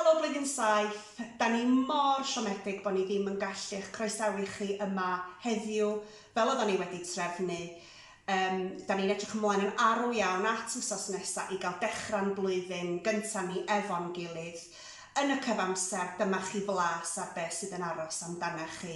Helo Blwyddyn Saith! Da ni mor siomedig bo ni ddim yn gallu eich croesawu chi yma heddiw fel oeddan ni wedi trefnu. Yym, da ni'n edrych ymlaen yn arw iawn at wsos nesa i gael dechra'n blwyddyn gynta ni efo'n gilydd. Yn y cyfamser, dyma chi flas ar be sydd yn aros amdanach chi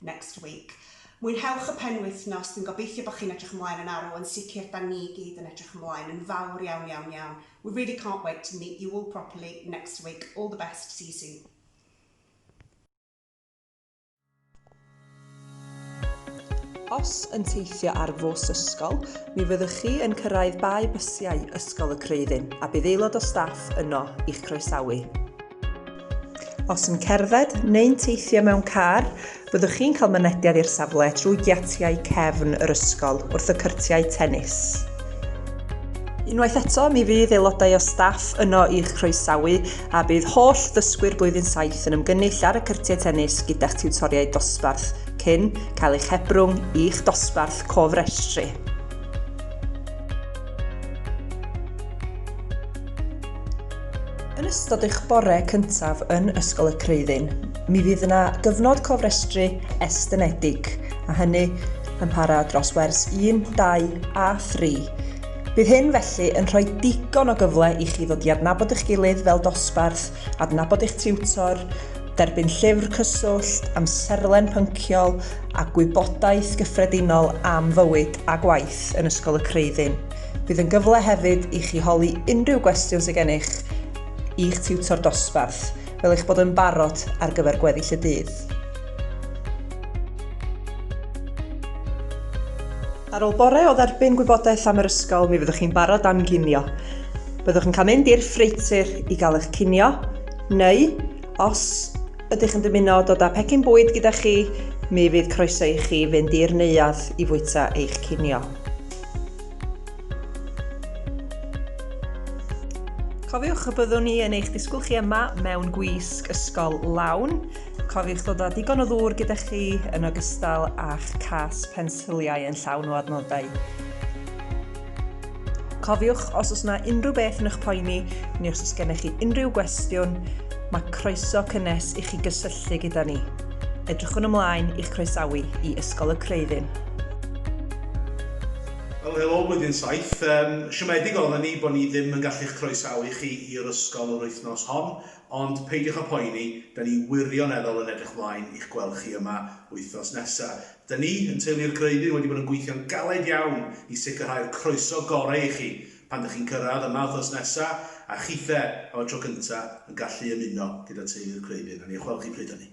next week. Mwynhewch y penwythnos, dwi'n gobeithio bod chi'n edrych ymlaen yn arw, yn sicr da ni i gyd yn edrych ymlaen yn fawr iawn iawn iawn. We really can't wait to meet you all properly next week, all the best, see you soon. Os yn teithio ar fws ysgol, mi fyddwch chi yn cyrraedd bae bysiau Ysgol y Creuddyn a bydd aelod o staff yno i'ch croesawu. Os yn cerdded neu'n teithio mewn car, byddwch chi'n cael mynediad i'r safle trwy giatiau cefn yr ysgol wrth y cyrtiau tennis. Unwaith eto, mi fydd aelodau o staff yno i'ch croesawu a bydd holl ddysgwyr blwyddyn 7 yn ymgynnull ar y cyrtiau tennis gyda'ch tiwtoriaid dosbarth cyn cael eich hebrwng i'ch dosbarth cofrestru. Yn ystod eich bore cyntaf yn Ysgol y Creuddyn, mi fydd yna gyfnod cofrestru estynedig, a hynny yn para dros wers 1, 2 a 3. Bydd hyn felly yn rhoi digon o gyfle i chi ddod i adnabod eich gilydd fel dosbarth, adnabod eich tiwtor, derbyn llyfr cyswllt, amserlen pynciol a gwybodaeth gyffredinol am fywyd a gwaith yn Ysgol y Creuddyn. Bydd yn gyfle hefyd i chi holi unrhyw gwestiwn sydd gennych i'ch tiwtor dosbarth, fel eich bod yn barod ar gyfer gweddill y dydd. Ar ôl bore o dderbyn gwybodaeth am yr ysgol, mi fyddwch chi'n barod am ginio. Byddwch yn cael mynd i'r ffreitur i gael eich cinio, neu os ydych yn dymuno dod â pecyn bwyd gyda chi, mi fydd croeso i chi fynd i'r neuadd i fwyta eich cinio. Cofiwch y byddwn ni yn eich disgwyl chi yma mewn gwisg ysgol lawn. Cofiwch ddod â digon o ddŵr gyda chi yn ogystal â'ch cas pensiliau yn llawn o adnoddau. Cofiwch, os oes yna unrhyw beth yn eich poeni, neu os oes gennych chi unrhyw gwestiwn, mae croeso cynnes i chi gysylltu gyda ni. Edrychwn ymlaen i'ch croesawu i Ysgol y Creuddyn. Wel helo blwyddyn saith. Yn siomedig oedden ni bod ni ddim yn gallu'ch croesawu chi i'r ysgol yr wythnos hon, ond peidiwch â phoeni, da ni wirioneddol yn edrych mlaen i'ch gweld chi yma wythnos nesa. Da ni, yn Teulu'r Greuddyn, wedi bod yn gweithio'n galed iawn i sicrhau'r croeso gorau i chi pan dych chi'n cyrraedd yma wythnos nesa, a chithe am y tro cynta yn gallu ymuno gyda Teulu'r Creuddyn. A ni a chwel chi pryd hynny.